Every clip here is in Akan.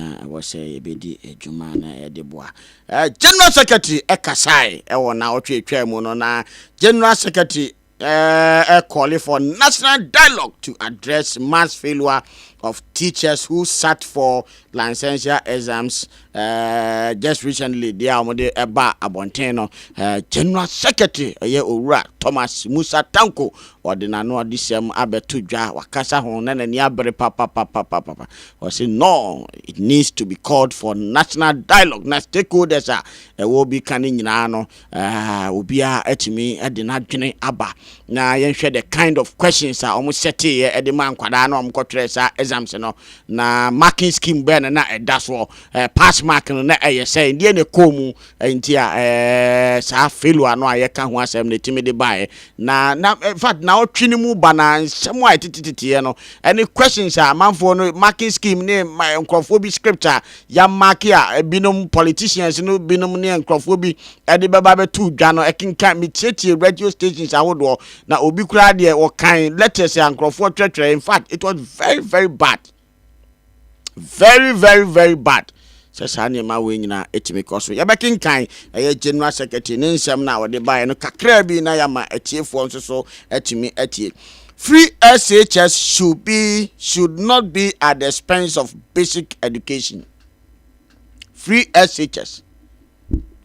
na ɛwɔ sɛ yɛbɛdi dwuma na yɛde boa. General Secretary kasae wɔ naawɔtwe a ɛtwaa mu no na General Secretary uh, calling for national dialogue to address mass failure of teachers who sat for licentiate exams uh, just recently. They are the Eba Abonteno, uh, General Secretary, uh, Owura Thomas Musa Tanko, Ɔde n'ano adesɛm abɛto dwa, wakasa ho na n'ani abere papapapapapa. Ɔse no, it needs to be called for national dialogue na stakeholders a ɛwɔ obi ka no nyinaa no, eh, obiara atumi de n'adwene aba na yɛnhwɛ the kind of questions a wɔn sɛteeɛ de maa nkwadaa na wɔn kɔtwerɛ saa exams no na marking scheme bɛn na na ɛda soɔ, eh, pass mark no na ɛyɛ sɛn, deɛ na ɛkɔɔ mu Enti a ɛɛ saa Feiloa no a yɛka ho asɛm no tumi de baeɛ. Na na in fact naawɔtwe no mu ba na nsɛm a ɛteteteteɛ no ɛne questions a amanfoɔ no marking scheme ne ma nkurɔfoɔ bi script a yɛamake a binom politicians no binom ne nkurɔfoɔ bi ɛde bɛba bɛto dwa no ɛkenkan metietie radio stations ahodoɔ na obi koraa deɛ wɔkan letters a nkurɔfoɔ twerɛtwerɛ in fact it was very very bad. very very very bad sɛ saa nneɛma wei nyinaa ɛtumi kɔ so yɛbɛkenkan ɛyɛ general secretary ne nsɛm no a wɔde baeɛ no kakraa bi na yɛama atiefoɔ nso so atumi atie free shs should be should not be at the expense of basic education free shs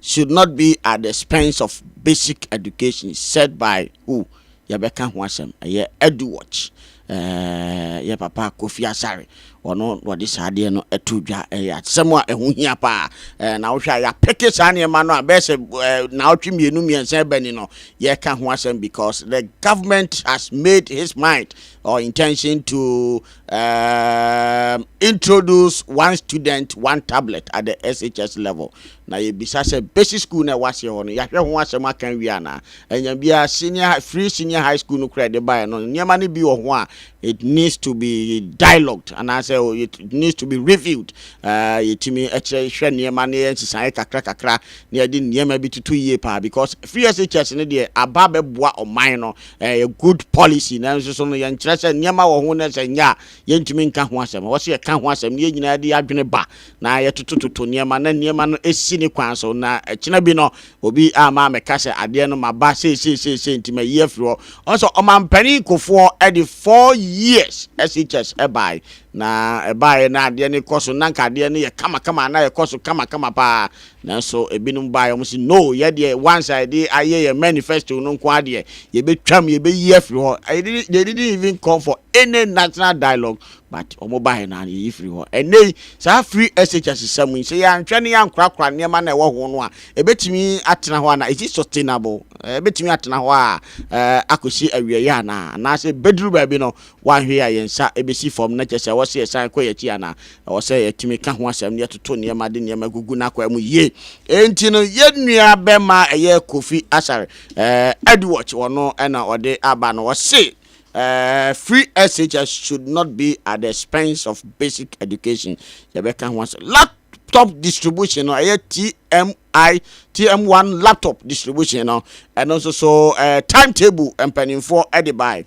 should not be at the expense of basic education said by who yɛbɛka ho asɛm ɛyɛ eduwatch ɛɛ yɛ papa kofi asare ɔno wɔde saa adeɛ no ɛto dwa ɛyɛ asɛm a ɛho hia paa ɛɛ na wohwɛ a yɛapeke saa nneɛma no a bɛyɛ sɛ ɛɛ naawɔtwe mmienu mmiɛnsa ɛbɛni no yɛka ho asɛm because the government has made his mind or intention to Um, introduce one student, one tablet at the SHS level. Na yɛbisa sɛ basic school na ɛwɔ aseɛ hɔ no yɛahwɛ ho asɛm aka wie anaa? Ɛnya biara senior free senior high school no kora ɛde baeɛ no nneɛma no bi wɔ ho a it needs to be dialogued anaasɛ oh, it needs to be reviewed. Uh, yɛtumi ɛkyerɛ hwɛ nneɛma no yɛ nsesaeɛ kakra kakra na yɛde nneɛma bi toto yie paa because free SHS no deɛ aba bɛboa ɔman no Ɛyɛ good policy nanso so no yɛnkyerɛ sɛ nneɛma wɔ ho na sɛ nyɛ a yɛntumi nka ho asɛm. Ɛwɔ sɛ yɛka ho asɛm na yɛn nyinaa de yɛn adwene ba na yɛtotototo nneɛma na nneɛma no si ne kwan so na ɛkyena bi no obi amma ammɛka sɛ adeɛ no maba seiseisei nti mayi afiri hɔ. Ɔhu sɛ ɔmampanin Kufoɔ de four years SHS baeɛ na ɛbaeɛ na adeɛ no rekɔ so na anka adeɛ no yɛ kamakama na ɛkɔ so kamakama paa Nanso ebinom baeɛ, wɔse, No, yɛ deɛ once a yɛde ayɛ yɛn manifesto no nko ara deɛ, yɛbɛtwam, yɛbɛyi afiri hɔ. They didn't, they didn't even call for any national dialogue, but wɔn baeɛ no ara yɛyi firi hɔ. Ɛnnɛ yi, saa free SHS sam yi, sɛ yɛanhwɛ ne yɛankorakora nneɛma no a ɛwɔ ho no a, ɛbɛtumi atena hɔ anaa? Is it sustainable? Ɛbɛtumi atena hɔ a, ɛɛ, akɔsi awieeɛ anaa? Anaasɛ bɛduru baabi no, wɔanhwɛ yi a yɛn nsa bɛsi fam, na kyerɛ sɛ ɛwɔ sɛ yɛsan kɔ yɛn akyi anaa? Ɛwɔ sɛ yɛtumi ka ho asɛm na yɛtoto nneɛma de nneɛma gugu n'akwan mu yie. Enti no, yɛn nuabarima a ɛyɛ Kofi Asare eh, Edward, ɔno na ɔde aba no, ɔse eh, free SHS should not be at the expense of basic education. Yɛbɛka ho asɛm. Laptop distribution no, ɛyɛ TMI, TM1 laptop distribution no, ɛno nso so eh, timetable mpanimfoɔ de bae.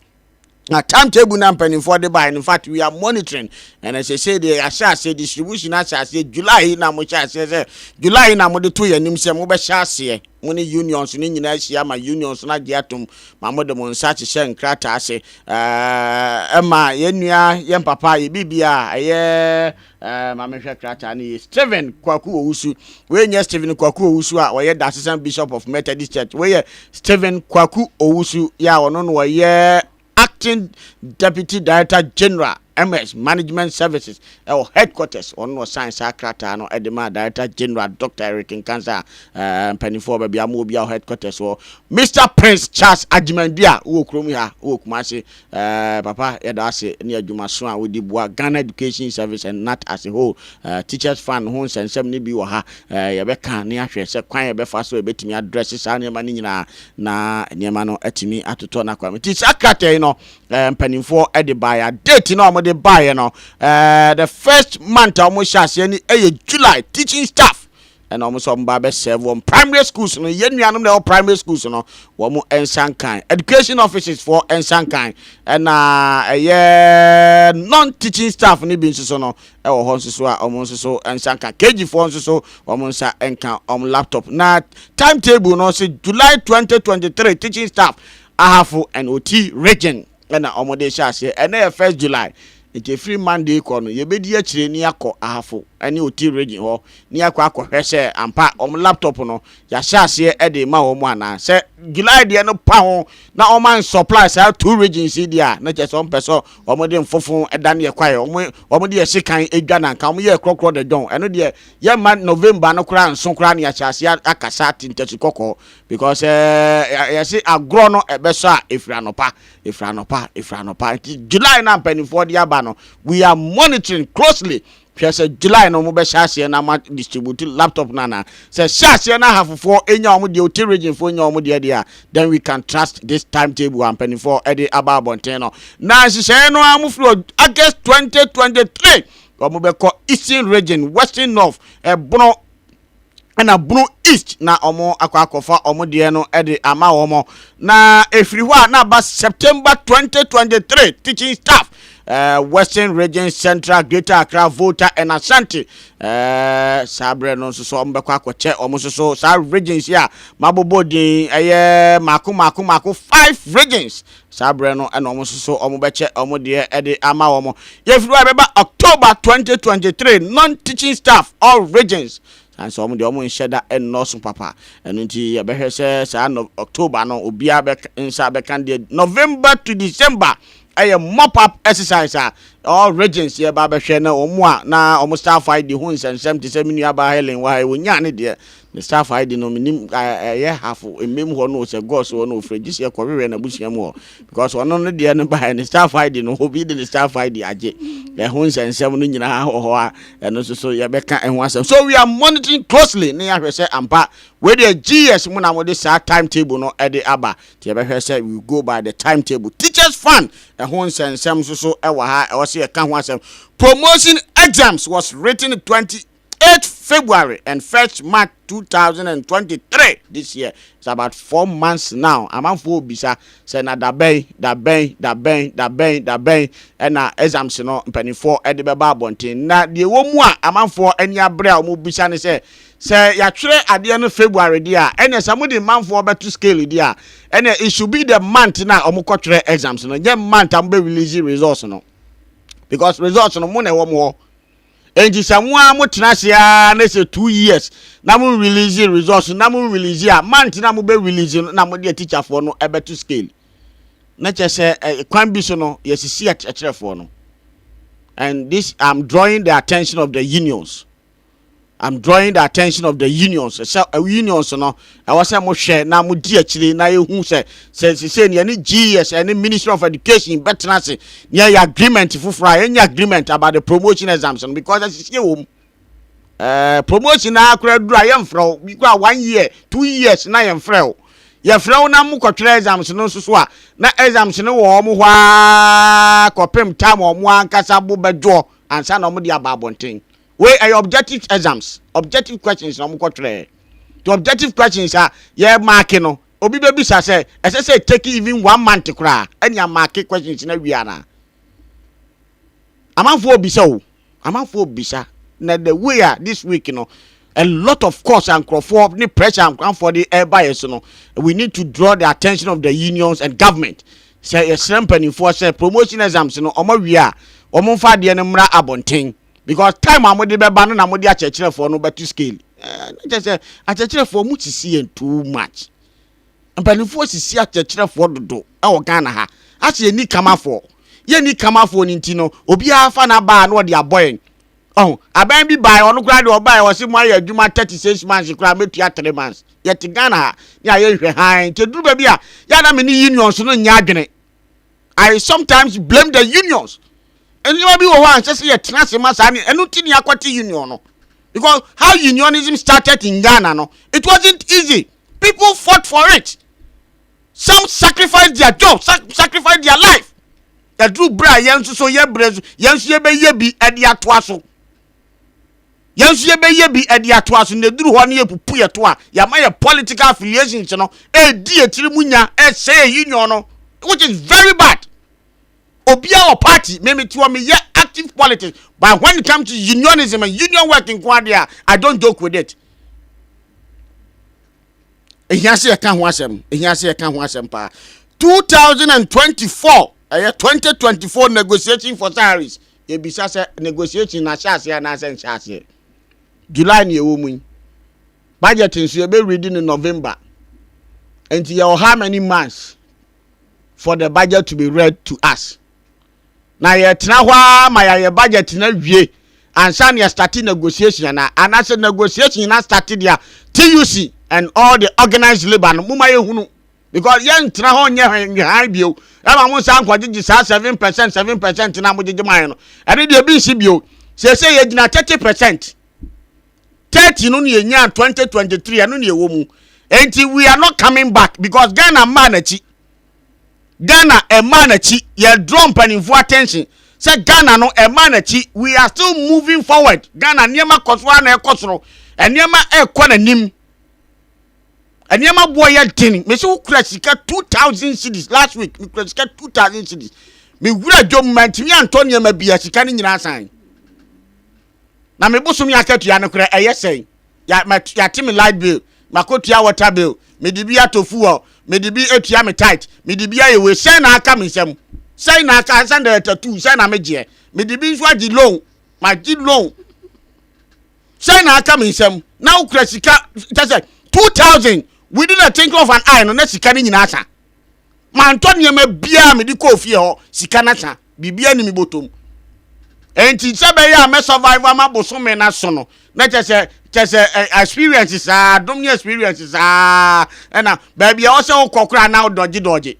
na time table na mpanimfoɔ de baeɛ no in fact we are monitoring ɛna sɛsɛ deɛ yɛahyɛ aseɛ distribution ahyɛ aseɛ july na mo hyɛ aseɛ sɛ july na mo de to yɛn anim sɛ mobɛhyɛ aseɛ mo ne unions no nyinaa ahyia ma unions no agye atom ma mo de mo nsa hyehyɛ nkrataa ase ɛɛ ɛma yɛn nua yɛn papa yɛ biribi a ɛyɛ Eh, ma menhwɛ krataa no yie. Stephen Kwaku Owusu. Wei nyɛ Stephen Kwaku Owusu a ɔyɛ Dasesam Bishop of Methodist Church. Wei yɛ Stephen Kwaku Owusu yɛ a ɔno na ɔyɛ Acting Deputy Director General MS Management Services ɛwɔ Headquarters. Ɔno na ɔsan saa krataa no de maa Director General Dr. Eric Nkansa a eh, mpanimfoɔ ɔba bia mo wɔ bia wɔ Headquarters hɔ. Mr. Prince Charles Agyemang-Duah wɔ kurom ha wɔ Kumasi. Ɛɛ papa yɛda ase ne adwuma so a wodi boa Ghana Education Service and nat as a whole. Ɛɛ Teachers Fund ho nsɛnsɛm no bi wɔ ha. Ɛɛ yɛbɛka ne ahwɛ sɛ kwan a yɛbɛfa so a yɛbɛtumi adrɛse saa nneɛma no nyinaa na nneɛma no atumi atotɔ na akɔ anim. Nti saa krataa yi no ɛɛ mpanimfoɔ de baeɛ a date no a wɔde baeɛ no ɛɛ the first month a wɔhyɛ aseɛ no yɛ July teaching staff ɛna wɔn nso wɔn ba bɛ serve wɔn primary schools no yɛn nuanom na ɛwɔ primary schools no wɔn nsa nkan education offices foɔ nsa nkan ɛna ɛyɛ non teaching staff no bi nso so no ɛwɔ hɔ nso so a wɔn nso so nsa nkan kg foɔ nso so wɔn nsa nkan wɔn laptop na timetable no sɛ july 2023 teaching staff ahafo and oti region. na wɔde rehyɛ aseɛ. Ɛnnɛ yɛ first July, nti ɛfiri Monday rekɔ no, yɛbɛdi akyire na yɛakɔ Ahafo ne Oti region hɔ na yɛakɔ akɔhwɛ sɛ ampa wɔn laptop no, yɛahyɛ aseɛ de rema wɔn anaa. Sɛ July deɛ no pa ho na wɔn an supply saa two regions yi deɛ a, na kyerɛ sɛ wɔmpɛ sɛ wɔde mfofo dan yɛ kwaeɛ, wɔn wɔn de yɛ sekan adwa na nka wɔn yɛ korɔkorɔ dɛ dɔn. Ɛno deɛ yɛmma November no koraa nso koraa na yɛahyɛ aseɛ akasa te ntasi kɔkɔɔ. Because ɛɛ yɛsi agorɔ no ɛbɛsɔ a efiri anɔpa efiri anɔpa efiri anɔpa nti July na mpanimfoɔ de aba no we are monitoring closely hwɛ sɛ July no wɔn bɛ hyɛ aseɛ na wɔn distribute laptop no anaa sɛ hyɛ aseɛ na ahafofoɔ enya wɔn deɛ oti region foɔ enya wɔn deɛ deɛ a then we can trust this time table a mpanimfoɔ ɛde aba abɔnten no na nhyehyɛeɛ no a wɔn firi August twenty twenty three wɔn bɛ kɔ eastern region western north ɛbono. ɛna Bono East na wɔn akɔ akɔfa wɔn deɛ no de ama wɔn. Na ɛfiri hɔ a na aba September 2023 teaching staff uh, Western Region Central Greater Accra Volta and Ashanti uh, saa berɛ no nso so wɔn bɛkɔ akɔkyɛ wɔn nso so saa regions a mabobɔ din ɛyɛ mako mako mako five regions Saa berɛ no na wɔn nso so wɔbɛkyɛ wɔn deɛ de ama wɔn. Yɛfiri hɔ a ɛbɛba October 2023 non-teaching staff all regions sane sɛ wɔn deɛ wɔn nhyɛ da nnɔɔso papa ɛno nti yɛbɛhwɛ sɛ saa no October no obiara bɛ nsa bɛka deɛ November to December ɛyɛ mop up exercise a all regions yɛba bɛhwɛ na wɔn a na wɔn staff ID ho nsɛnsɛm te sɛ me nuabaa Helen wɔ ha yi wɔnyaa ne deɛ Ne staff ae de no menim ɛyɛ half mmem hɔ no sɛ gɔs hɔ no ofrɛ gye sɛ ɛkɔ hwehwɛ n'abusua mu hɔ because ɔno no deɛ no baeɛ ne staff ae de no obi de ne staff ae de agye ɛho nsɛnsɛm no nyinaa wɔ hɔ a ɛno nso so yɛbɛka ɛho asɛm so we are monitoring closely ne yɛahwɛ sɛ ampa wei deɛ GS mu na mode saa timetable no ɛde aba nti yɛbɛhwɛ sɛ we go by the timetable teachers fund ɛho nsɛnsɛm nso so ɛwɔ ha ɛwɔ sɛ yɛka ho asɛm promotion exams was written 20 Eight February and first March two thousand and twenty three this year it's about four months now amanfoɔ ɔbisa sɛ na dabɛn dabɛn dabɛn dabɛn dabɛn ɛna exams no mpanimfoɔ ɛde bɛba abɔnten na deɛ wɔ mu a amanfoɔ ani abere a wɔn bisa ne sɛ sɛ yɛatwerɛ adeɛ no February deɛ a ɛna sɛ wɔde manfoɔ bɛto scale deɛ a ɛna it should be the month na wɔn kɔtwerɛ exams no nyɛ month a wɔn bɛ release results no because results no mo na ɛwɔ mo hɔ. Enti sɛ mo ara motena ase ara na sɛ two years na mo release results no na mo release a, month no a mobɛ release no na mode atikyafoɔ no bɛto scale. Na kyerɛ sɛ eh, kwan bi so no yɛsisi akyerɛkyerɛfoɔ no. And this I'm drawing the attention of the unions. I'm drawing the attention of the unions. Sɛ eh, unions no Ɛwɔ sɛ mo hwɛ na mo di akyire na yɛ hu sɛ, sɛ sesei no yɛ ne GES ɛne Ministry of Education bɛ tena ase na yɛ yɛ agreement foforɔ a, yɛ nyɛ agreement about the promotion exams no because asisie wɔ mu. Ɛɛ promotion no ara koraa duru a yɛ mfrɛ wo, bi koraa one year, two years na yɛ mfrɛ wo. Yɛ frɛ wo na mo kɔ twerɛ exams no nso so a, na exams no wɔ wɔn hɔ ara kɔpem time a wɔn ankasa bo bɛdwoɔ ansa na wɔn de aba abɔnten. Wei ɛyɛ objective exams, objective questions na wɔkɔ twerɛɛ. To objective questions a yɛ marke no, obi bɛ bisa sɛ ɛsɛ sɛ take even one month koraa ɛne a marke questions no awie anaa? Amanfoɔ ɔbisa o, amanfoɔ ɔbisa na the way a this week no a lot of course a nkorɔfoɔ ne pressure a nkoranfoɔ de ɛreba yɛ so no, we need to draw the attention of the unions and government sɛ yɛsrɛ mpanimfoɔ sɛ promotion exams no wɔn awie a wɔn mfa adeɛ no mmra abɔnten. Because time a mode bɛba no na mode akyerɛkyerɛfoɔ no bɛto scale. Eh, na kyerɛ sɛ akyerɛkyerɛfoɔ mo sisi yɛn too much. Mpanimfoɔ sisi akyerɛkyerɛfoɔ dodo wɔ Ghana ha. Ase yɛn ni kamafoɔ. Yɛn ni kamafoɔ no nti no, obiara fa na baa na ɔde abɔ yɛn. Ɔho, abɛn bi baa ɔno koraa de ɔbaa yɛ ɔse mo ayɛ adwuma 36 months koraa mɛtua 3 months. Yɛte Ghana ha ne ayɛ nhwɛ hann. Nti duru baabi a, yɛ na me ne unions no nyɛ adwene. I sometimes blame the unions. Nneɛma bi wɔ hɔ a nsɛ sɛ yɛtena ase ma saa ne ɛno nti ne akɔte union no. Because how unionism started in Ghana no, it wasn't easy. People fought for it. Some sacrificed their job, sacrificed their life. Ɛduru berɛ a yɛn nso so yɛbrɛ so yɛn nso yɛbɛyɛ bi ɛde atoa so. Yɛn nso yɛbɛyɛ bi de atoa so na ɛduru hɔ no yɛpupu yɛ to a yɛama yɛ political affiliations no ɛredi yɛ tiri mu nya ɛhyɛ yɛ union no which is very bad. Obia wɔ party memete wɔ meyɛ active politics but when it comes to unionism and union work nko adeɛ a I don't joke with it. Ɛhia sɛ yɛka ho asɛm ɛhia sɛ yɛka ho asɛm paa 2024 ɛyɛ 2024 negotiation for salaries yɛbisa sɛ negotiation no ahyɛ aseɛ anaasɛ nhyɛ aseɛ. July na yɛwɔ mu yi. Budget nso yɛbɛready no November. Nti yɛwɔ how many months for the budget to be read to us? Na yɛtena hɔ ara ma yɛayɛ budget no awie ansa na yɛstarte negotiation anaa? Anaasɛ negotiation na starte deɛ a TUC and all the organized labour no moma yɛhunu. Because yɛn ntena hɔ nyɛ nhwehwɛhan bio. Ɛma mo nsa nkɔ gyegye saa seven percent seven percent na mo gyegye maa yɛn no. Ɛne deɛ ebi nsi bio. Sese yɛ gyina thirty percent. Thirty no na yɛ nyaa twenty twenty three ɛno na ɛwɔ mu. Enti we are not coming back because Ghana mmaa n'akyi. Ghana mmaa n'akyi yɛ draw mpanimfoɔ attention sɛ Ghana no mmaa n'akyi we are still moving forward. Ghana nneɛma kɔ so a na ɛkɔ soro. Nneɛma ɛkɔ n'anim. Nneɛma boɔ yɛ den. Mesi wo kura sika two thousand cedis last week. Me kura sika two thousand cedis. Me wura dwom ma ntumi antɔ nneɛma bi a sika no nyinaa san. Na me bosom yɛ akatua no kura ɛyɛ sɛn. Ya ma yate me light bill. Makotua water bill. Me de bi ato fuel. Me de bi atua me tight. Me de bi ayɛ wei. Sɛn na aka me nsam. Sɛn na aka ansa na tattoo. Sɛn na me gyeɛ. Me de bi nso agye loan. Ma gye loan. Sɛn na aka me nsam na wokura sika kyɛ sɛ two thousand within the twinkle of an eye no na sika no nyinaa sa. Mantɔ nneɛma biara a mede kɔɔ fie hɔ, sika no asa, biribiara ni me bɔtɔ mu. Enti sɛ bɛyɛ a mɛ survive ama bosome no aso no, na kyɛ sɛ kyɛ sɛ experience saa, dom ne experience saa, ɛna baabi a ɔsɛ wokɔ koraa na wodɔgye dɔgye.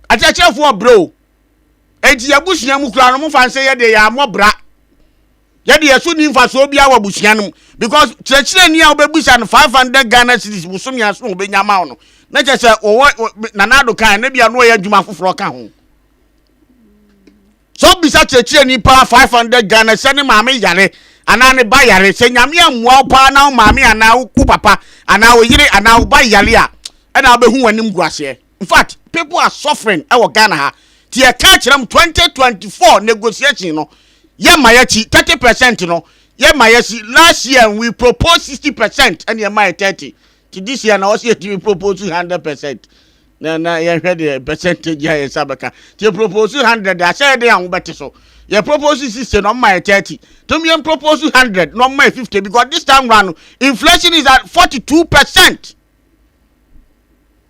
Akyerɛkyerɛfoɔ brɛ o. Enti yɛabusua mu koraa no, mofa nsɛ yɛde yɛ amɔ bra. Yɛ deɛ ɛso nni mfasoɔ biara wɔ abusua no mu because kyerɛkyerɛni a wobɛbisa no five hundred Ghana cedis bosome a so na ɔbɛnya ama wo no na kyerɛ sɛ wɔwɔ Nana Addo kan na bia na ɔyɛ adwuma foforɔ ka ho sɛ wobisa kyerɛkyerɛni paa five hundred Ghana sɛ ne maame yare anaa ne ba yare sɛ nyame ammoa wo paa na wo maame anaa wo papa anaa wo yere anaa wo ba yare a ɛna wobɛhu w'anim gu aseɛ Infact people are suffering wɔ Ghana ha nti yɛ ka kyerɛ mo 2024 negotiation no yɛ ma yɛ kyi 30 percent no yɛ ma yɛ si last year we propose 60 percent ɛna yɛ ma yɛ 30 nti this year na ɔsi yɛ tumi propose 100 percent na na yɛn hwɛ deɛ percentage a yɛ nsa bɛka nti yɛ propose 100 de ahyɛ yɛ de ahoɔ bɛte so yɛ propose 60 na ɔmo ma yɛ 30 tumi yɛn propose 100 na ɔmo ma yɛ 50 because this time round inflation is at 42 percent.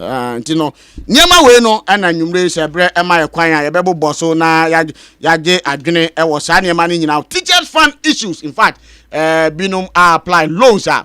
Ah, nti no nneɛma wei no ɛna nnwumire yi sɛ berɛ ɛma yɛ kwan a yɛbɛbobɔ so na ya- yɛagye adwene ɛwɔ saa nneɛma no nyinaa teachers fund issues in fact eh, binom a apply loans a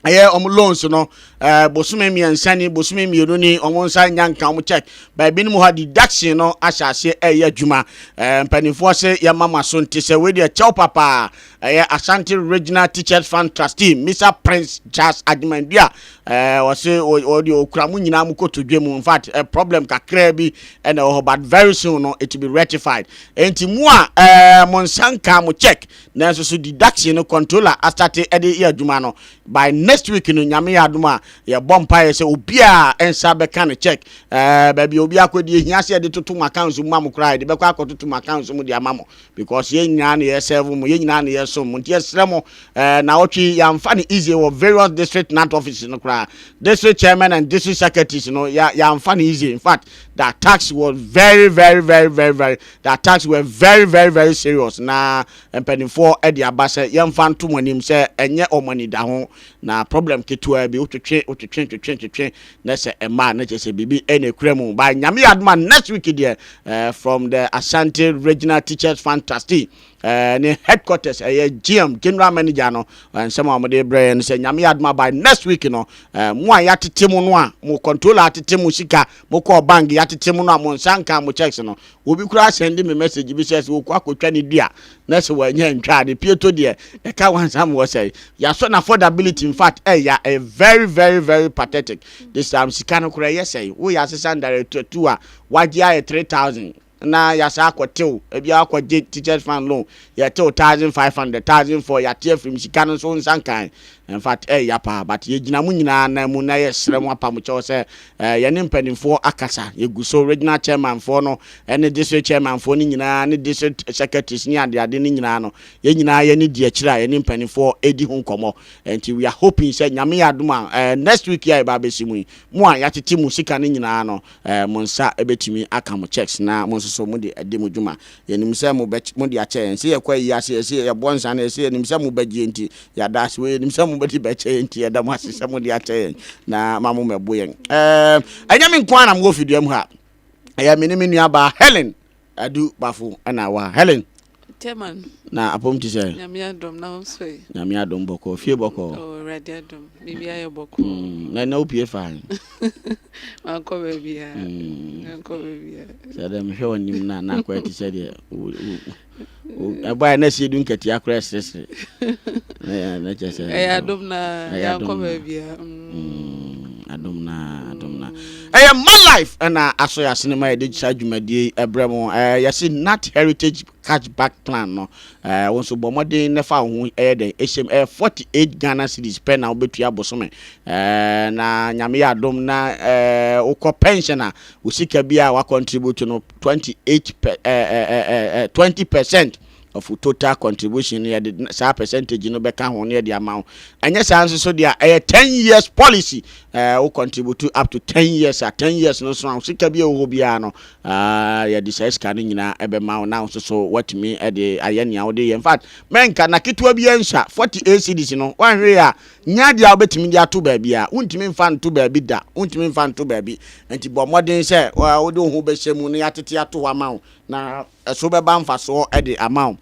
ɛyɛ wɔn loans no eh, bosome mmiɛnsa ni bosome mmienu ni wɔn nsa nya nka wɔn check baa binom hɔ a deduction no ahyɛ aseɛ ɛyɛ adwuma eh, mpanimfoɔ se yɛma mo aso nte sɛ wei deɛ kyɛw papaa Ɛyɛ Ashanti Regional Teachers Fund Trustee Misa Prince Charles Agyeman-Dua eh, ɔse ɔde ɔkura mu nyinaa mu kɔto dwa mu. In fact, eh, problem kakraa bi ɛna ɛwɔ hɔ but very soon no it will be rectified. Enti mu a eh, mo nsa nkaa mo check nanso so deduction no controller astate ɛde yɛ adwuma no by next week no nyame yɛ adom a yɛbɔ mpaeɛ sɛ obiara nsa bɛka ne check eh, baabi a obi akɔdi ehia sɛ yɛde toto mo accounts mu ma mo koraa yɛde bɛkɔ akɔtoto mo accounts mu de ama mo Because yɛn nyinaa na yɛ serve mo, yɛn nyinaa na yɛ som mo, nti yɛ srɛ mo, eh, naawɔtwe yi yɛn anfa no easy wɔ various district nant offices no koraa, district chairman and district secretaries no yɛ yɛn anfa no easy, in fact the attacks was very very very very very the attacks were very very very serious na mpanimfoɔ ɛde aba sɛ yɛn fa nto mo anim sɛ ɛnyɛ wɔn anidaho na problem ketewa bi wotwetwe wotwetwe twetwe twetwe Na sɛ ɛma a na kyerɛ sɛ biribi na ɛkura mu. But Nyame yɛ adom a next week deɛ eh, from the Asante Regional Teachers Fund Trustee eh, ne headquarters ɛyɛ eh, GM General Manager no eh, nsɛm a wɔde brɛ yɛn no sɛ Nyame yɛ adom a by next week no eh, mo a yɛatete mo no a mo controller atete mo sika mokɔɔ bank yɛatete mo no a mo nsa nka mo checks no Obi koraa sɛnde me message bi sɛ sɛ ɔkɔ akɔtwa ne dua na sɛ wanya antwa a ne pieto deɛ ɛka wansam wɔ sɛe. Yɛasɔ n'affordability infact ɛya ɛyɛ very very very pathetic this time sika no koraa ɛyɛ sɛe woyɛ asesa ndare tattoo a wagye ayɛ three thousand na yɛasan akɔ tew ebi a wakɔ gye teachers fund loan yɛtew thousand five hundred thousand four yɛate afiri mu sika no nso wo nsa nkae infact ɛya paa but yɛgyina mo nyinaa nan mu na yɛsrɛ mo apamo kyɛw sɛ Eh, yɛne mpanimfoɔ akasa. Yɛgu so, regional chairman foɔ no ne district chairman foɔ no nyinaa ne district secretaries ne adeade no nyinaa no, yɛn nyinaa yɛne di akyire a yɛne mpanimfoɔ redi ho nkɔmmɔ. Nti we are hoping sɛ Nyame yɛ adom a eh, next week yi a yɛba abɛsi mu yi, mo a yɛatete mo sika no nyinaa no eh, mo nsa bɛtumi aka mo cheques na mo nso so mode adi mo dwuma. Yɛnim sɛ mobɛky mode akyɛ yɛn. Sɛ yɛkɔ ayi ase, yɛse yɛbɔ nsã na yɛse yɛnim sɛ mobɛgye yɛn nti, yɛada ase. Wei yɛnim sɛ mobɛde bɛkyɛ yɛn nti, yɛda mo ase sɛ mode akyɛ yɛn na ma mommɛbo yɛn. Ɛɛm, ɛnyɛ me nko ara na mewɔ fidua mu ha. Ɛyɛ me ne me nuabaa Helen Adu Bafo na ɛwɔ ha. Helen, Teman, na apɔm te sɛn? Nyame adom, na wo nso ɛ? Nyame adom bɔkɔɔ. Fie bɔkɔɔ? Oo, Awurade adom, biribiara yɛ bɔkɔɔ. Mm, na ɛnnɛ wopue faa he? mankɔ baabiaa mm. mankɔ baabiaa sɛ dɛ mehwɛ wo anim no a na akɔyɛ te sɛ deɛ ɛbaɛ na sie du nkatia korɔ ɛseresere na kyɛ sɛ ɛyɛ adom na yɛankɔ baabiaa adom na adom na ɛyɛ ma life ɛna aso yɛ asene ma yɛde saa dwumadie ɛbrɛ mu yɛse nat heritage Catch back plan no, eh, wo nso bɔ mmɔden na fa wo ho ɛyɛ dɛn ɛhyɛm. Ɛyɛ 48 Ghana cedis pɛ na wobɛtua bosome. Eh, na nyame yɛ adom na eh, wokɔ pension a, wo sika bi a wacontribute no 28 per, eh, eh, eh, eh, eh, 20 percent of wo total contribution no yɛde n- saa percentage no bɛka ho na yɛde ama wo. Ɛnyɛ saa nso so deɛ a, ɛyɛ 10 years policy. Eh, wo contribute up to 10 years a, 10 years no so a, wo sika bi a ɛwɔ hɔ biara no, Aah yɛde saa sika no nyinaa ɛbɛma wo na wo nso so watumi ɛde ayɛ nea wode yɛ infact mɛnka na ketewa biara nsua forty eight cedis no wanhwee a nya adeɛ a wobɛtumi de ato baabi a wontumi nfa nto baabi da wontumi nfa nto baabi nti bɔ mmɔden sɛ wode wo ho bɛhyɛ mu na yɛatete ato hɔ ama wo na ɛso bɛba mfasoɔ ɛde ama wo.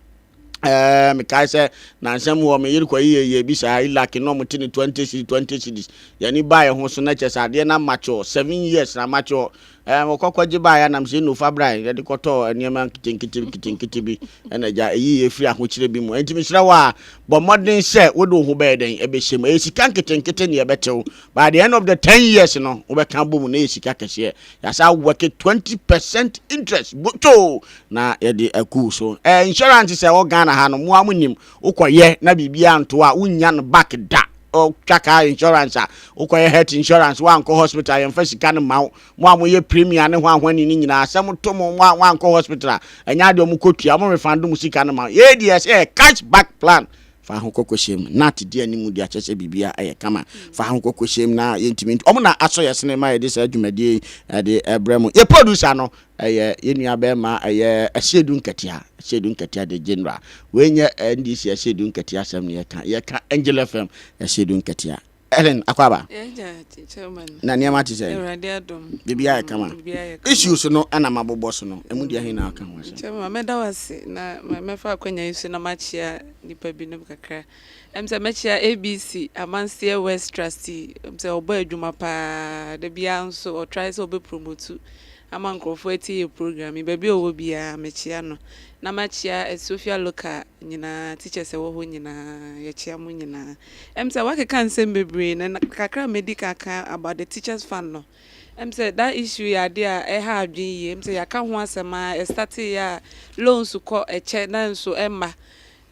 Ɛɛɛ mekae sɛ nnansa mu hɔ me yere kɔyɛ yɛyɛ bi saa ilaki na wɔte ne twenty cedis twenty cedis yɛn ani baeɛ ho so na kyɛ sɛ adeɛ na mature seven years na mature ɛɛ wɔkɔkɔ gye baeɛ anam sɛ nofa bran yɛde kɔtɔɔ nneɛma nketenkete nketenkete bi ɛna agya ɛyi yɛ firi ahokyerɛ bi mu ɛnti mesrɛ wɔ a bɔ mmɔden sɛ wode wo ho bɛyɛ dɛn ɛbɛhyɛ mu ɛyɛ sika nketenkete ne ɛbɛtew by the end of the ten years no wobɛka bɔ mu na ɛyɛ sika kɛseɛ Yasa wɛke twenty percent interest botoo na yɛde akuu so. Ɛɛ insurance sɛ ɛwɔ Ghana ha no mo a mo nim wokɔyɛ na biribi anto a wonnya no back da. Ɔtwa car insurance a wokɔyɛ health insurance wankɔ hospital yɛmfa sika no ma wo. Mo a moyɛ premier ne hwan hwan ni ne nyinaa sɛ mo to mo mo a wankɔ hospital a ɛnyɛ adeɛ ɔmo kɔtua ɔmo refund mo sika no ma wo. Yei deɛ yɛsɛ yɛ cash back plan Fa ho kɔ kohyia mu. Nat di anim de akyerɛ sɛ biribiara yɛ kama. Fa ho kɔ kohyia mu na yɛntumi ntu. Wɔn na asɔ yɛn sene ma yɛde saa dwumadie yi de brɛ mo. Yɛn producer no yɛ yɛn nua barima ɛyɛ Asiedu Nketia. Asiedu Nketia the general. Wei nyɛ NDC Asiedu Nketia asɛm na yɛka. Yɛka Angel FM Asiedu Nketia. Ellen Akwaaba na nneɛma te sɛn? Biribiara yɛ kama. Issues no na mabobɔ so no, ɛmu deɛ he na aka ho asɛm? Chairman, mɛda wo ase na mɛfa akwanya yi so na makyea nnipa binom kakra. Ɛm sɛ mɛkyea ABC Amanseɛ West Trustee, ɛm sɛ ɔbɔ adwuma paa, da biara nso ɔ try sɛ ɔbɛ promote ama nkurɔfoɔ atie yɛ program yi, baabi a ɔwɔ biara mekyea no. Na makyea Sofia Local nyinaa, teachers a ɛwɔ hɔ nyinaa, yɛkyea mo nyinaa. Ɛm sɛ wakeka nsɛm bebree na kakra a mɛdi kan aka about the teachers fund no ɛm sɛ that issue yɛ adeɛ a ɛha adwene yie ɛm sɛ yɛaka ho asɛm a ɛstate yɛ a loans kɔ ɛkyɛ nanso ɛmma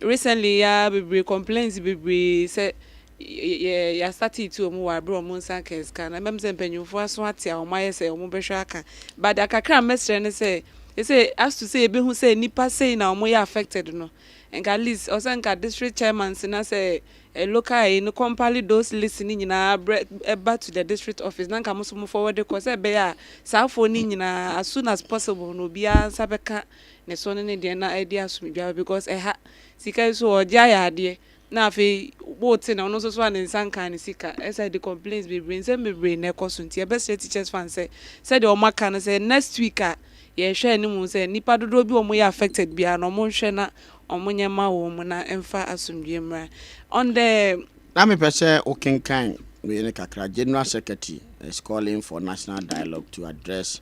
recently yɛ ara bebree complains bebree sɛ yɛ yɛastate ti wɔn wɔ aberɛ wɔn nsa nka sika no ɛmɛm sɛ mpanyinfoɔ aso ate a wɔn ayɛ sɛ wɔn bɛhwɛ aka but deɛ kakra a mɛsrɛ ne sɛ ɛsɛ as to sɛ yɛbɛhu sɛ nnipa sei na wɔn yɛ affected no Nka at least ɔsɛ nka district chairman si na sɛ ɛ local ɛyi no compile those list no nyinaa brɛ ɛba to the district office na nka mo nso mo forward kɔ sɛ ɛbɛyɛ a saa foɔ no nyinaa as soon as possible no obiara nsa bɛka ne so ne ne deɛ na ɛde asomdwoe aba because ɛha sika yi so ɔgye ayɛ adeɛ Na afei wo te na ɔno nso soa ne nsa nkaa ne sika ɛsɛ de complains bebree nsɛm bebree na ɛkɔ so nti yɛbɛsrɛ teachers fund sɛ sɛdeɛ wɔn aka no sɛ next week a yɛrehwɛ anim sɛ nnipa dodoɔ bi a wɔyɛ affected biara no wɔn nhwɛ na wɔn nyɛ ma wɔn mu na ɛmfa asomdwoeɛ mmra on the Na mepɛ sɛ wo kenkan wei no kakra, General Secretary is calling for national dialogue to address